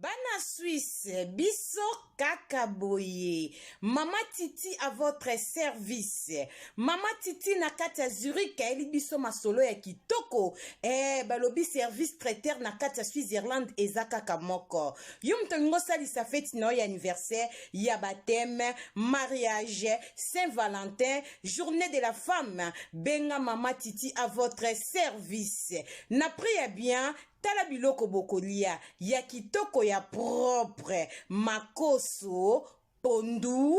Bana Suisse, biso kaka boye. Mama Titi à votre service. Mama Titi na kati ya Zurich ayeli biso masolo ya kitoko. Eh, balobi service traiteur na kati ya Switzerland eza kaka moko. Yo moto olingi osalisa feti na yo ya anniversaire, ya baptême, mariage, Saint Valentin, journée de la femme, benga Mama Titi à votre service. Na prix ya bien, Tala biloko bokolia ya kitoko ya propre, makoso, pondu,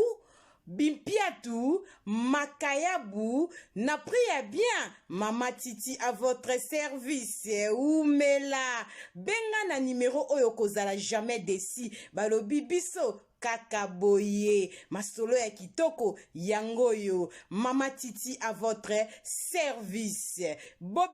bimpiatu, makayabu, na prix ya bien. Mama Titi à votre service. Umela. Benga na numero oyo kozala jamais desi. Balobi biso kaka boye masolo ya kitoko yango oyo mama titi à votre service Bob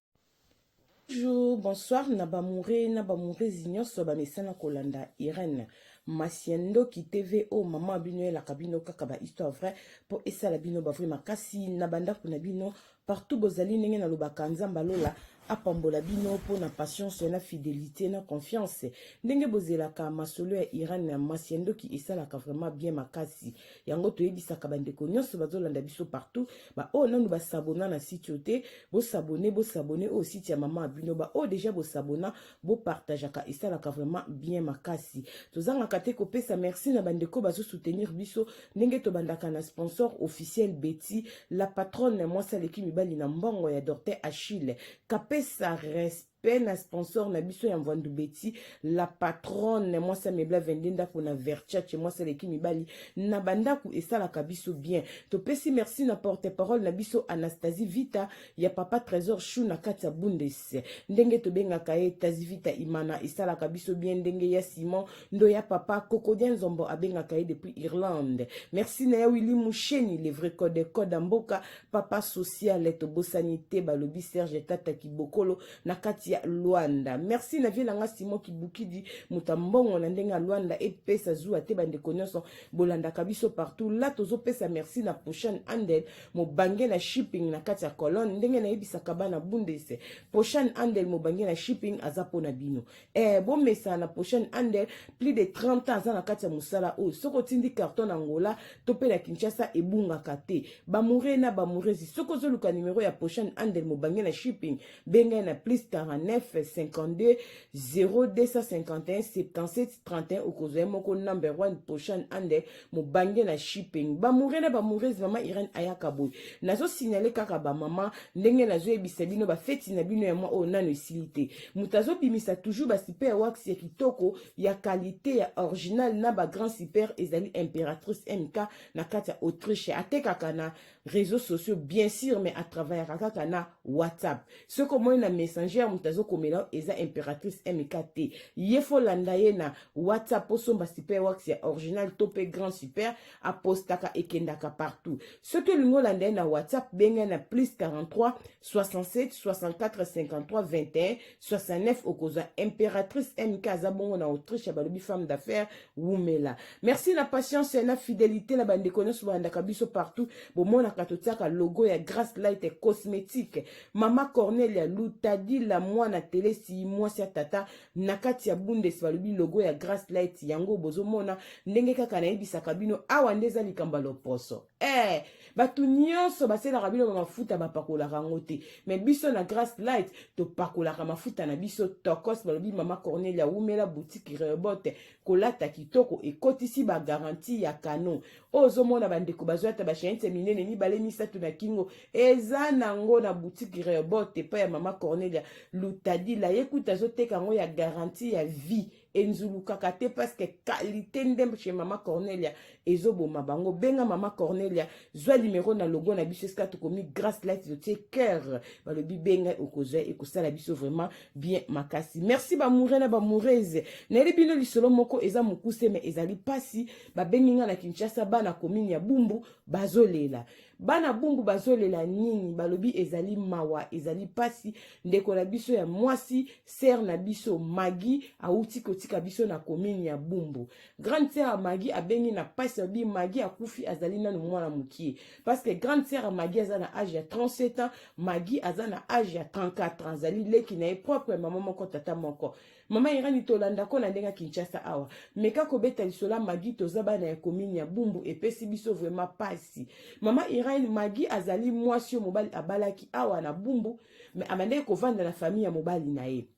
Bonjour, bonsoir na bamoure na bamourezi nyonso bamesana kolanda Irène Masiendoki TV o oh, mama bino elaka bino kaka ba histoire vrai mpo esala bino ba vrai makasi na bandako na bino partout bozali ndenge nalobaka nzambe alola apambola bino mpo na patience na fidelité na confiance ndenge bozelaka masolo ya Irène Masiendoki esalaka vraiment bien makasi yango toyebisaka bandeko nyonso bazolanda biso partout baoyo oh, nanu basabona na site oyo te bosabone bosabone oyo oh, site ya mama ya bino baoyo oh, deja bosabona bopartageaka esalaka vraiment bien makasi tozangaka te kopesa merci na bandeko bazosoutenir biso ndenge tobandaka na sponsor officiel beti la patronne mwasi aleki mibali na mbongo ya dorte achille kapesa respect mpe na sponsor na biso ya mvandu beti la patronne mwasi amebla 22 ndako na verchace mwasi aleki mibali na bandako esalaka biso bien topesi merci na porte parole na biso anastasie vita ya papa trésor chou na kati ya bundes ndenge tobengaka ye tazi vita imana esalaka biso bien ndenge ya simon ndo ya papa kokodia nzombo abengaka ye depuis irlande merci na ya willi musheni le vrai code code mboka papa social tobosani te balobi serge tata kibokolo na kati ya luanda merci na vie na nga simon kibukidi moto ya mbongo na ndenge ya luanda epesa zuwa te bandeko nyonso bolandaka biso partout la tozopesa merci na prochaine andel mobange na shipping na kati ya colonne ndenge nayebisaka bana bundese prochaine andel mobange na shipping aza mpo na bino eh, bomesana na prochaine ander plus de 30 ans aza na kati ya mosala oyo soki otindi carton na angola to mpe na kinshasa ebungaka te bamoure na bamouresi soki ozoluka numero ya prochaine ander mobange na shipping bengai na plus 49 52 0251 77 31 okozwa ye moko number 1 prochaine ander mobange na shipping bamoure na bamourese mama irene ayaka boye nazosignale kaka bamama ndenge nazoyebisa bino bafeti na bino ya mwa oyo nano esili te moto azobimisa toujours basipe ya wax ya kitoko ya kalite ya original na bagrand super ezali impératrice mk na kati ya autriche atekaka na réseaux sociaux bien sûr mais atravayaka kaka na whatsapp soki omoni na messenger moto azokomela eza impératrice mk te ye fo landa ye na whatsapp osomba super wax ya original to mpe grand super apostaka ekendaka partout soki olingi olanda ye na whatsapp benga na plus 43 67 64 53 21 69 okozwa impératrice mk aza bongo na autriche balobi femme d'affaires wumela merci na patience na fidélité na bandeko nyonso bolandaka biso partout bomonaka totiaka logo ya grace light cosmétique mama cornelia lutadila mwana telesi mwasi ya tata na kati ya bundes balobi logo ya grace light yango bozomona ndenge kaka nayebisaka bino awa nde eza likambo ya loposo eh bato nyonso baselaka bino bamafuta bapakolaka yango te me biso na grace light topakolaka mafuta na biso tokos balobi mama cornelia wumela boutique rebote kolata kitoko ekotisi bagaranti ya kano oyo ozomona bandeko bazwi ata bashainse minene mibale misato na kingo eza nango na boutique rebote epai ya mama cornelia lutadila ye kuta azoteka yango ya garanti ya vie enzulukaka te parceke kalite ndembe chez mama cornelia ezoboma bango benga mama cornelia zwa limero na logo na biso esika tokomi grace light lotie cœur balobi benga okozwa ekosala biso vraiment bien makasi merci bamoure na bamourese nayeli bino lisolo moko eza mokuse me ezali mpasi babengi ngai na kinshasa bana komini ya bumbu bazolela bana bumbu bazolela nini balobi ezali mawa ezali pasi ndeko na biso ya mwasi sere na biso magi awuti kotika biso na komini ya bumbu grande sere ya magi abengi na pasi alobi magi akufi azali nano mwana mokie parceke grande sere ya magi aza na age ya 37 ans magi aza na age ya 34 ans azali leki na ye propre mama moko tata moko mama irani tolanda ko na ndenge ya kinshasa awa meka kobeta lisolo ya magi toza bana ya komini ya bumbu epesi biso vraiment pasi mama irani magi azali mwasi oyo mobali abalaki awa na bumbu me abandaki kovanda na famille ya mobali na ye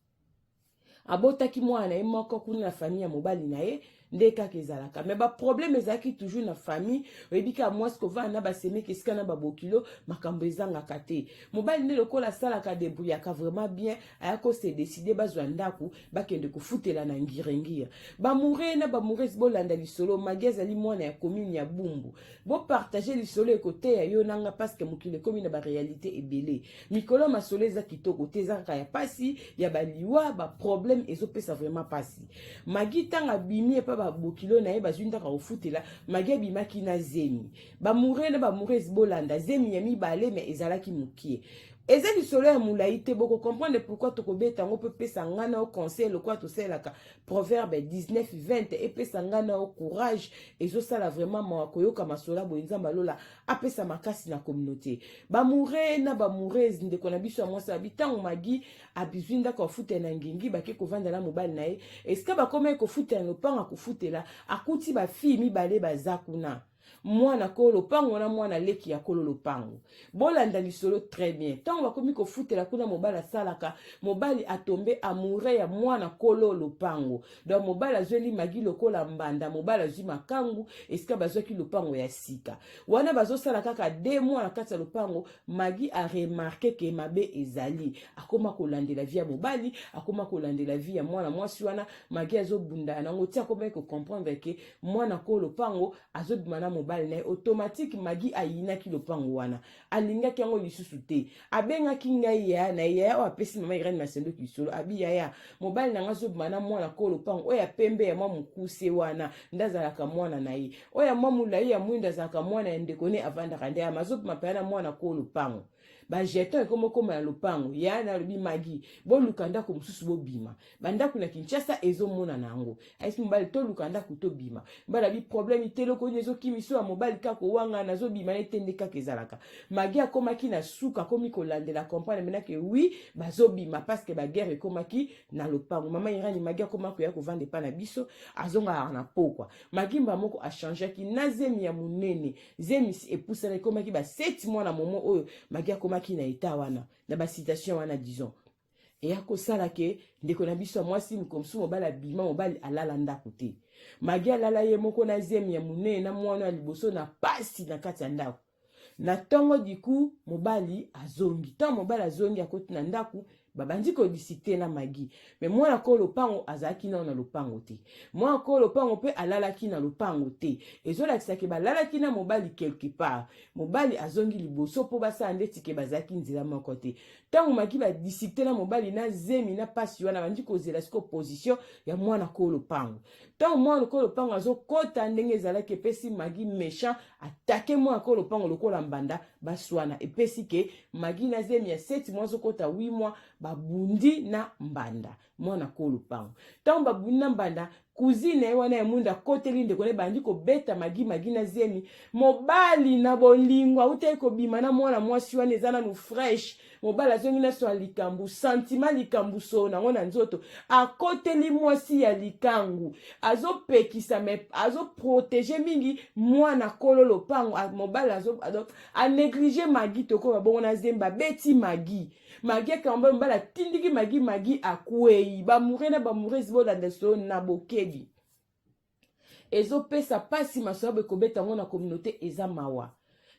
abotaki mwana na ye moko kuna na famille ya mobali na ye nde kaka ezalaka me baproblème ezalaki toujours na famille oyebi kaka mwasi kovanda na basemeki esika na babokilo makambo ezangaka te mobali nde lokola asalaka debrouillaka vraiment bien aya kose décide bazwa ndako bakende kofutela na ngiringiri bamoure na bamourese bolanda lisolo magi azali mwana ya commune ya bumbu bopartage lisolo ekoteya yo nanga parceke mokili ekomi na baréalité ebele mikolo ya masolo eza kitoko te eza kaka ya pasi ya baliwa baproblème ezopesa vraiment pasi magi ntango abimi epa babokilo na ye bazwi ntaka kofutela magi abimaki na zemi bamoure na bamourese bolanda zemi ya mibale me ezalaki mokie eza lisolo ya molai te bokocomprendre pourkui tokobeta yango mpo epesa ngai na yo conseil lokola tosalelaka proverbe 1920 epesa ngai na yo courage ezosala vraiment mawa koyoka masolo ya boye nzambe alola apesa makasi na communauté bamoure na bamourese ndeko na biso ya mwasi abi ntango magi abizwi ndako afutela na ngengi bake kovanda na mobali na ye esika bakomaki kofutela na lopango akofutela akuti bafille mibale baza kuna mwana kolo lopango na mwana leki ya kolo lopango bolanda lisolo très bien ntango bakomi kofutela kuna mobali asalaka mobali atombe amoure ya mwana kolo lopango donc mobali azweli magi lokola mbanda mobali azwi makangu esika bazwaki lopango ya sika wana bazosala kaka de mwa na kati ya lopango magi aremarke ke mabe ezali akoma kolandela vi ya mobali akoma kolandela vi ya mwana mwasi wana magi azobundana nango ti akomaki kocomprendre ke mwana ko lopango azobima na mobali na ye automatike magi ayinaki lopango wana alingaki yango lisusu te abengaki ngai yaya na ye yaya oyo apesi mama irene masendoki lisolo abi yaya mobali na ngai azobima na mwana koo lopango oyo ya pembe ya mwa mokuse wana nde azalaka mwana na ye oyo ya mwa molai ya mwindo azalaka mwana ya ndeko ne avandaka nde yama azobima mpena na mwana koo lopango bajeton ekomokoma na lopango yaya na alobi magi boluka ndako mosusu bobima bandako na kinshasa ezomonana yango aisi mobali toluka ndako tobima mbala bi problème iteloko nini ezokimiso ya mobali kaka kowanga nazobima nete nde kaka ezalaka magi akomaki na suka akomi kolandela comprendre mena ke wi bazobima parce que baguerre ekomaki na lopango mama irani magi akoma koya kovanda epa na biso azongaka na pokwa magimba moko achangeaki na zemi ya monene zemi epusana ekomaki ba 7 mwana momo oyo magi akomaki na eta wana na basitation wana disons eya kosala ke ndeko na biso ya mwasi mokolo mosusu mobali abima mobali alala ndako te magi alala ye moko na zemi ya monene na mwana ya liboso na pasi na kati ya ndako na ntongo diku mobali azongi ntango mobali azongi akoti na ndako babandi kodisikte na magi me mwana koo lopango azalaki nao na lopango te mwana koo lopango mpe alalaki na lopango te ezolakisa ke balalaki na mobali quelque part mobali azongi liboso mpo basala ndeti ke bazalaki nzela moko te ntango maki badisikte na mobali na zemi na mpasi wana bandi kozela siko position ya mwana koo lopango ntango mwana koo lopango azokɔta ndenge ezalaki epesi magi méchant atake mwana koo lopango lokola mbanda baswana epesi ke magi na zemi ya seti mwa azokɔta 8 mwa babundi na mbanda mwana ko lupango ntango babuni na mbanda kuzine ye wana ya mwinda akoteli ndeko na ebandi kobeta magi magi na zemi mobali na bolingo autaki kobima na mwana mwasi wana eza nanu fresh mobali azongi na swa likambo santima likambo solo nango na nzoto akoteli mwasi ya likangu azopekisa me azoprotege mingi mwana kolo lopango mobali aneglige magi tokoba bongo na zemba abeti magi magi akambo mobali atindiki magi magi akwei bamoure na bamourese bolanda solo na bokebi ezopesa mpasi masoyabo ekobeta yango na communauté eza mawa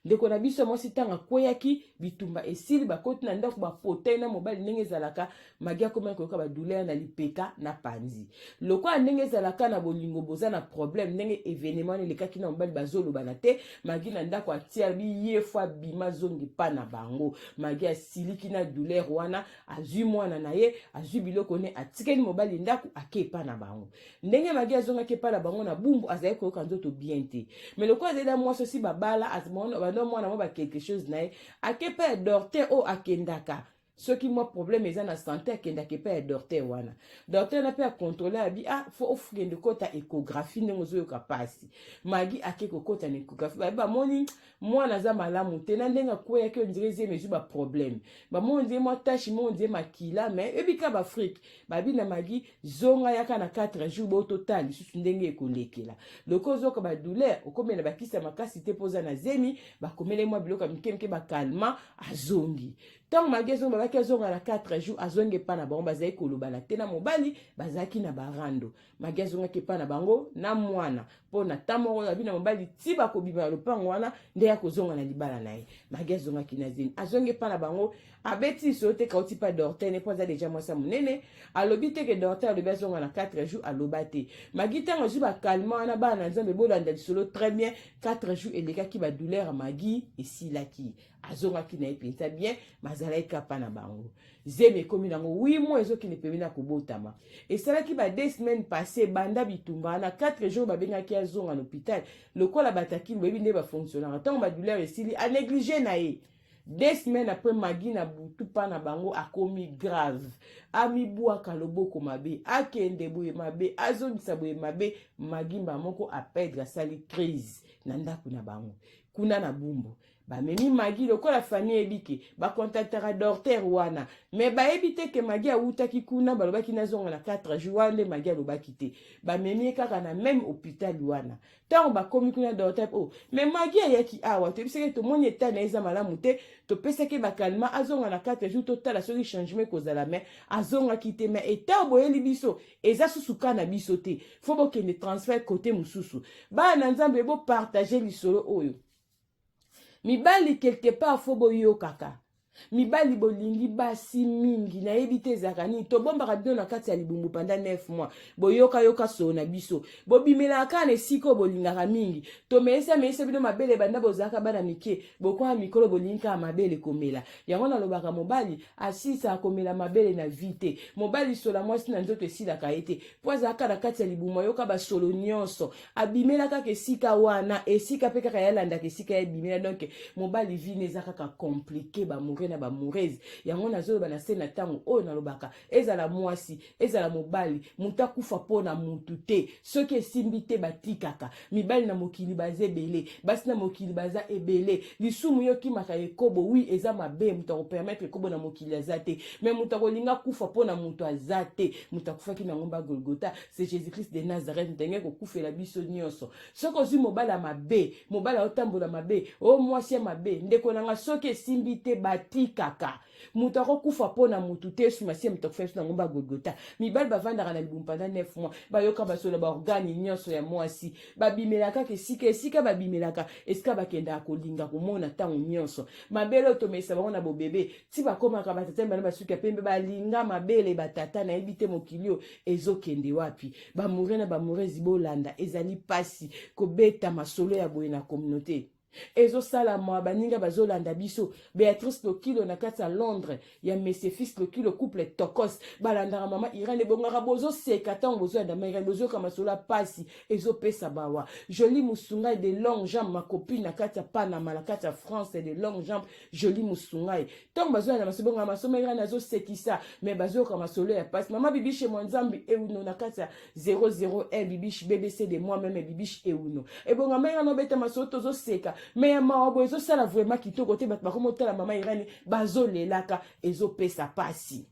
ndeko na biso ya mwasi ntango akweyaki bitumba esili bakoti na ndako bapotei na mobali ndenge ezalaka magi akomaki koyoka badouleur na lipeka na panzi lokola ndenge ezalaka na bolingo boza na problème ndenge evenema wana elekaki na mobali bazolobana te magi na ndako atia biye fo abima zongi pa na bango magi asiliki na douleur wana azwi mwana na ye azwi biloko ne atikeli mobali ndako ake epa na bango ndenge magi azongaki epa na bango na bumbu azali koyoka nzoto bien te mais lokola azali na mwasi osi babala bando mwana mwa ba quelque chose na ye ake epa ya dorte oyo akendaka soki mwa problème eza na sante akendaka epai ya dorter wana dorter wana mpe akontrole abi ah fo okende kota échographie ndenge ozoyoka mpasi magi ake kokota na échographie babi bamoni mwana aza malamu te na ndenge akweyaki ondire zemi ezwi baproblème bamoni ondire mwa tache mo ondire makila me ebika baafrike babi na magi zonga yaka na 4 jour bo totala lisusu ndenge ekolekela loko ozoka badouleur okomela bakisa makasi te mpo oza na zemi bakomele mwa biloko ya mike mike bakalma azongi ntango malaki ezonga malaki azonga na 4 jours azongi epai na bango bazali kolobana te na mobali bazalaki na barando magi azongaki epai na bango na mwana mpo na ntan moko abi na mobali ti bakobima na lopango wana nde akozonga na libala na ye magi azongaki na zemi azongi epai na bango abeti lisolo te kauti mpa dorte ne mpo aza deja mwasi ya monene alobi te ke dorte alobi azonga na 4 jours aloba te magi ntango azwi bakalma wana bana na nzambe bolanda lisolo très bien 4 jours elekaki badouleur ya magi esilaki azongaki na ye mpenza bien mazalaki kapa na bango zemi ekomi nango wi mo ezokende pembe na kobotama esalaki ba deux semaines passe banda bitumba wana 4 jours babengaki azonga na hôpital lokola batakili boyebi nde bafonctionnaka ntango badouleur esili anéglige na ye deux semaines après magi na butu mpa na bango akomi grave amibwaka loboko mabe akende boye mabe azongisa boye mabe magi mba moko apedre asali crise na ndako na bango kuna na bumbu bamemi magi lokola famille ebike bakontaktaka dorter wana me bayebi te ke magi awutaki kuna balobaki nazonga na 4 jour wana nde magi alobaki te bamemi ye kaka na meme hôpital wana ntango bakomi kuna dorter o oh, me magi ayaki awa toyebisaki tomoni etat na ye eza malamu te topesaki bakalima azonga na 4 jour totala soki changement ekozala me azongaki te me etat boyeli biso eza susu ka na biso te fo bokende transfert kote mosusu bana na nzambe bopartage lisolo oyo mibali quelque part fo boyokaka mibali bolingi basi mingi nayebi te ezalaka nini tobombaka bino na kati ya libumu panda 9 mois boyokayoka soo na biso bobimelaka kaka na esika oyo bolingaka mingi tomeisa meisa bino mabele banda bozalaka bana mike bokwaa mikolo bolingi kaka mabele komela yango nalobaka mobali asisa komela mabele na vi te mobali sola mwasi na nzoto esilaka ye te mpo azalaka na kati ya libumu ayoka basolo nyonso abimela kaka esika wana esika mpe kaka yalandaka esika ya ebimela donk mobali vine eza kaka komplike bamoure na bamourese yango nazoloba na se na ntango oyo nalobaka ezala mwasi ezala mobali moto akufa mpo na motu te soki esimbi te batikaka mibali na mokili baza ebele basi na mokili baza ebele lisumu yo okimaka ekobo wi eza mabe moto akopermetre ekobo na mokili aza te me moto akolinga akufa mpo na moto aza te moto akufaki na ngomba golgota se jesus christ de nazareth moto alingi kokufela biso nyonso soki ozwi mobali ya mabe mobali aotambola mabe o mwasi ya mabe ndeko na nga soki esimbi te batikaka moto akokufa mpo na motu te yesu masiya moto akufela biso na ngomba ya golgota mibali bavandaka na libumu mpanda 9 mois bayoka masolo ya baorgane nyonso ya mwasi babimelaka kaka esika esika babimelaka esika bakendaka kolinga komona ntango nyonso mabele oyo tomesa bango na bobebe ti bakomaka batata mibale basuki ya pembe balinga mabele batata nayebi te mokili oyo ezokende wapi bamoure na bamourezi bolanda ezali mpasi kobeta masolo ya boye na communauté ezosala mwa baninga bazolanda biso beatrice lokilo na kati ya londres ya mesefis lokilo couple tokos balandaka mama irane ebongaka bozoseka ntango bozoyanda ma irane bozoyoka masolo ya mpasi ezopesa bawa joli mosungai de long jambe makopi na kati ya panama na kati ya france de long jambe Jolie Musungai. Tant bazo na masobe nga masoma ira nazo sekisa mais bazo ka masolo ya passe. Mama bibiche mwa nzambi e uno na kati ya 00 e bibiche BBC de moi même bibiche e uno. E bonga ma ira no beta masolo tozo seka mais ya mawa bo ezo sala vraiment kitoko te bat bakomo tala mama ira ni bazo lelaka ezo pesa pasi.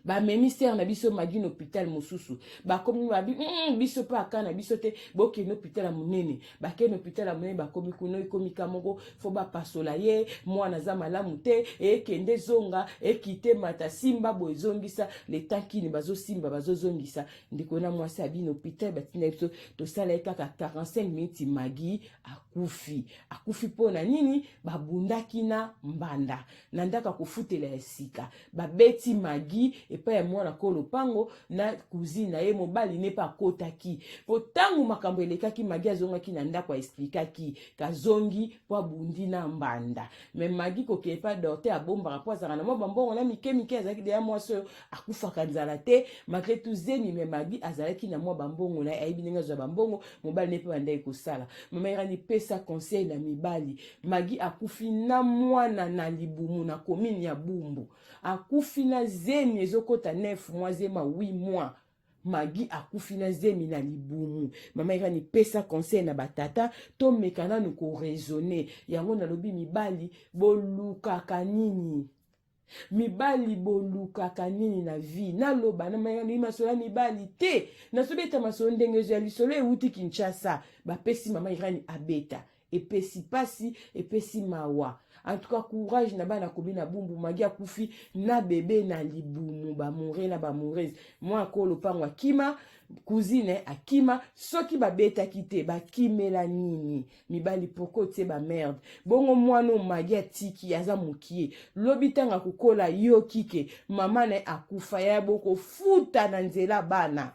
bamemi sere na biso magi na hôpital mosusu bakomi babi mm, biso mpe aka na biso te bokende hôpital ya monene bakende hôpital ya monene bakomi kuna ekomi ka moko fo bapasola ye mwana aza malamu te ekende ezonga ekite mata simba boye ezongisa letankini bazosimba bazozongisa ndeko na mwasi abi na hôpital batindaki biso tosala ye kaka 45 minutes magi akufi akufi mpo na nini babundaki na mbanda na ndako ya kofutela ya sika babeti magi epai ya mwana ko lopango na cousine na ye mobali ne mpe akotaki mpo ntango makambo elekaki magi azongaki na ndako aesplikaki kazongi mpo abundi na mbanda me magi kokee mpe adorte abombaka mpo azalaka na mwa bambongo na mike mike azalaki deya mwasi oyo akufaka nzala te malgré tout zemi me madi azalaki na mwa bambongo na ye ayebi ndenge azwa bambongo mobali ne mpe bandaki kosala mama irani pesa conseil na mibali magi akufi na mwana na libumu na komini ya bumbu akufi na zemi ezokota 9 mwa zema 8 mwa magi akufi na zemi na libumu mama irani pesa conseil na batata tomeka nanu koraisonne yango nalobi mibali bolukaka nini mibali bolukaka nini na vie naloba nalingi masolo ya mibali te nasobeta masolo ndenge ezo ya lisolo ewuti kinshasa bapesi mama irani abeta epesi pasi epesi mawa en tout cas courage na bana komi na bumbu magi akufi na bebe na libumu bamoure na bamourese mwa ako lopango akima cousine akima soki babetaki te bakimela nini mibali poko tse ba merde bongo mwana oyo magi atiki aza mokie lobi ntango akokola yo kike mama na ye akufa ya bokofuta na nzela bana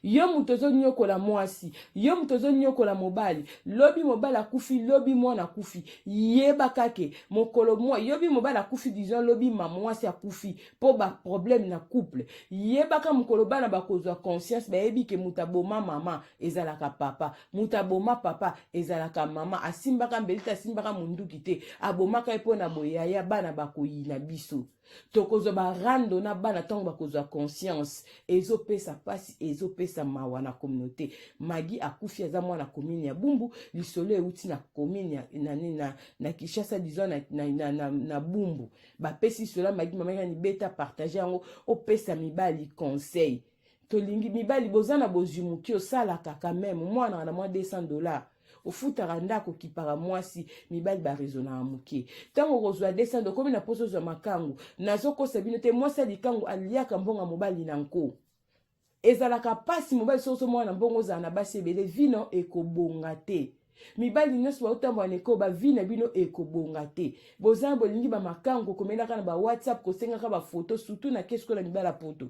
yo moto ozonyokola mwasi yo moto ozonyokola mobali lobi mobali akufi lobi mwana akufi yeba kake mokolo mwa yobi mobali akufi disons lobi ma mwasi akufi mpo baproblème na couple yebaka mokolo bana bakozwa conscience bayebi ke moto aboma mama ezalaka papa moto aboma papa ezalaka mama asimbaka mbeli te asimbaka monduki te abomaka ye mpo na boyaya bana bakoyina biso tokozwa barando na bana ntango bakozwa conscience ezopesa mpasi ezopesa mawa na communauté magi akufi aza mwana commune ya bumbu lisolo euti na commune ya, na, na, na kinshasa disons na, na, na, na, na bumbu bapesi lisolo ya magi mamaki na libeta partage yango opesa mibali conseil tolingi mibali boza na bozwi moke osalaka quand même mwana na mwa 200 dollars ofutaka ndako okipaka mwasi mibali baresonaka moke ntango okozwa 200 do okomi na mposa ozwa makangu nazokosa bino te mwasi ya likangu aliaka mbongo ya mobali na nko ezalaka mpasi mobali soki ozomona na mbongo ozala na basi ebele vino ekobonga te mibali nyonso baotambola na eko bavi na bino ekobonga te boza bolingi bamakango komelaka na bawhatsapp kosengaka bafoto surtout na keskola mibala poto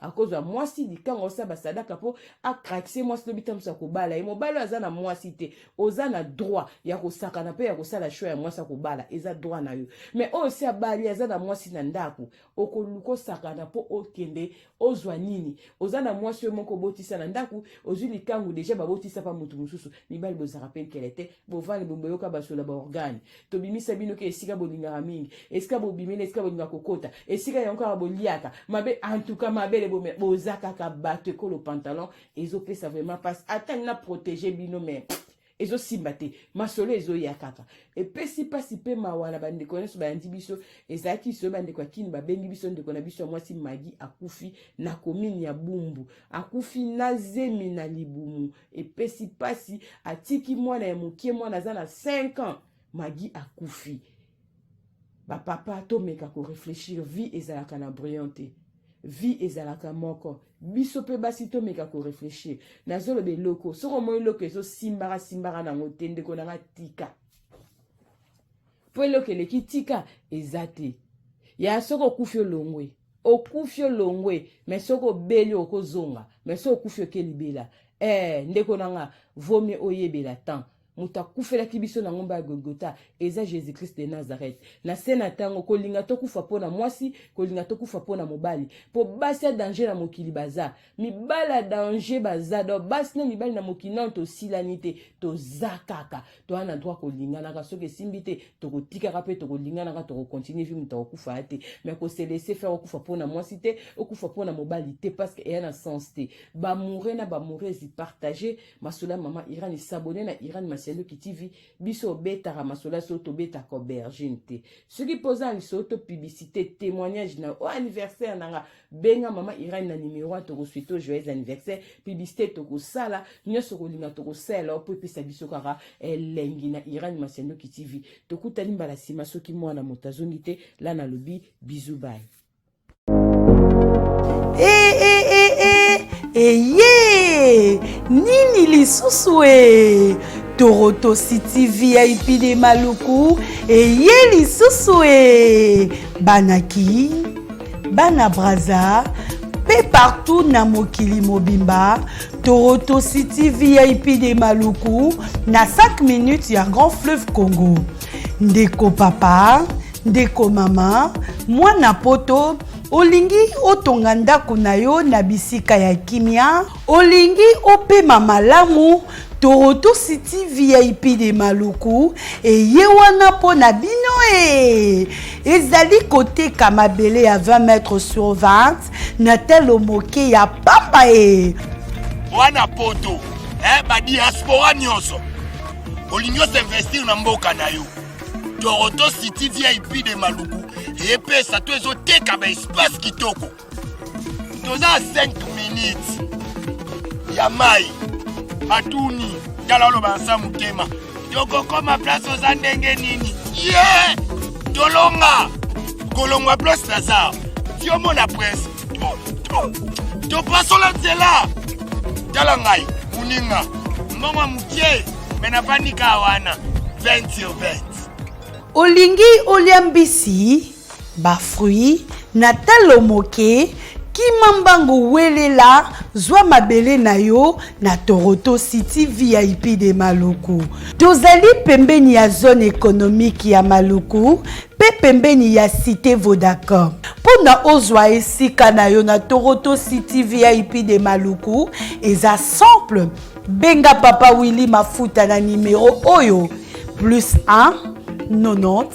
akozwa mwasi likanga osala basadaka mpo akrakise mwasi lobi ntango mosusu akobala ye mobali oyo aza na mwasi te oza na droit ya kosakana mpe ya kosala sho ya mwasi akobala eza droit na yo mai oyo si abali aza na mwasi na ndako okoluka osakana mpo okende ozwa nini oza na mwasi oyo moko obotisa na ndako ozwi likangu deja babotisa mpa moto mosusu mibali bozalaka mpe nkele te bovandi bomboyoka basola baorgane tobimisa bino ke esika bolingaka mingi esika bobimeli esika bolinga kokota esika yango kaka boliaka mabe antuka mabele boza kaka bato ekolo pantalon ezopesa vraiment mpasi ata na protege bino me ezosimba te masolo ezoya kaka epesi mpasi mpe mawa na bandeko nyonso bayandi biso ezalaki lisolo bandeko ya kini babengi biso ndeko na biso ya mwasi magi akufi na komini ya bumbu akufi na zemi na libumu epesi pasi atiki mwana ya mokie mwana aza na 5 ans magi akufi bapapa tomeka koreflechir vie ezalaka na brillant te vie ezalaka moko biso mpe basi tomeka koreflechir nazoloba eloko soki omoni eloko ezosimbaka simbaka nango te ndeko nanga tika mpo eloko eleki tika eza te ya soki okufi olongwe okufi olongwe me soki obeli okozonga me soki okufi oke libela eh, ndeko na nga vomi oyebela temps moto akufelaki biso na ngomba ya golgota eza jésus christ de nazareth na se na ntango kolinga tokufa mpo na mwasi kolinga tokufa mpo na mobali mpo basi ya danger na mokili baza mibali ya danger baza do basi na mibali na mokili nano tosilani te toza kaka toa na droit kolinganaka soki esimbi te tokotikaka mpe tokolinganaka tokokontinue vi moto akokufa ya te me koselese fer okufa mpo na mwasi te okufa mpo na mobali te parceke eya na sens te bamoure na bamourese partage masolo ya mama iran esabone na iran masiandoki tv biso obetaka masolo ya solo tobetaka aubergine te soki mpoza na lisolo to publicité témoignage na o anniversaire na nga benga mama irene na numero a tokosui to joyeux anniversaire publicité tokosala nyonso kolinga tokosala mpo epesa biso kaka elengi na irene masiandoki tv tokutani mbala nsima soki mwana moto azongi te la nalobi bizu bai hey, hey, hey, hey. eye nini lisusu e toroto city vip de maluku eye lisusu e banaki Bana Brazza pe partout na mokili mobimba Toronto City VIP de Maluku na 5 minutes ya Grand Fleuve Congo. Ndeko papa, ndeko mama, mwana poto olingi otonga ndako na yo na bisika ya kimia Olingi opema malamu Toronto City VIP de Maluku eye wana mpo na bino e ezali koteka mabele ya 20 mètre sur 20 na talo moke ya pamba e mwana poto eh, badiaspora nyonso olingi osinvestir na mboka na yo Toronto City VIP de Maluku epesa to ezoteka baespace kitoko toza 5 minutes ya mai atuni tala oloba nsa motema tokokoma place oza ndenge nini ye yeah! tolonga kolongwa place naza yo mona presse topasola nzela tala ngai moninga mbongo ya mokie me nafandi kaa wana 20 sur 20 olingi olia mbisi Ba fruits na talo moke Kima mbangu welela zwa mabele na yo na Toroto City VIP de Maluku. Tozali pembeni ya zone économique ya Maluku mpe pembeni ya Cité Vodacom. Mpo na ozwa esika na yo na Toroto City VIP de Maluku eza simple. Benga Papa Willy Mafuta na nimero oyo plus 1 90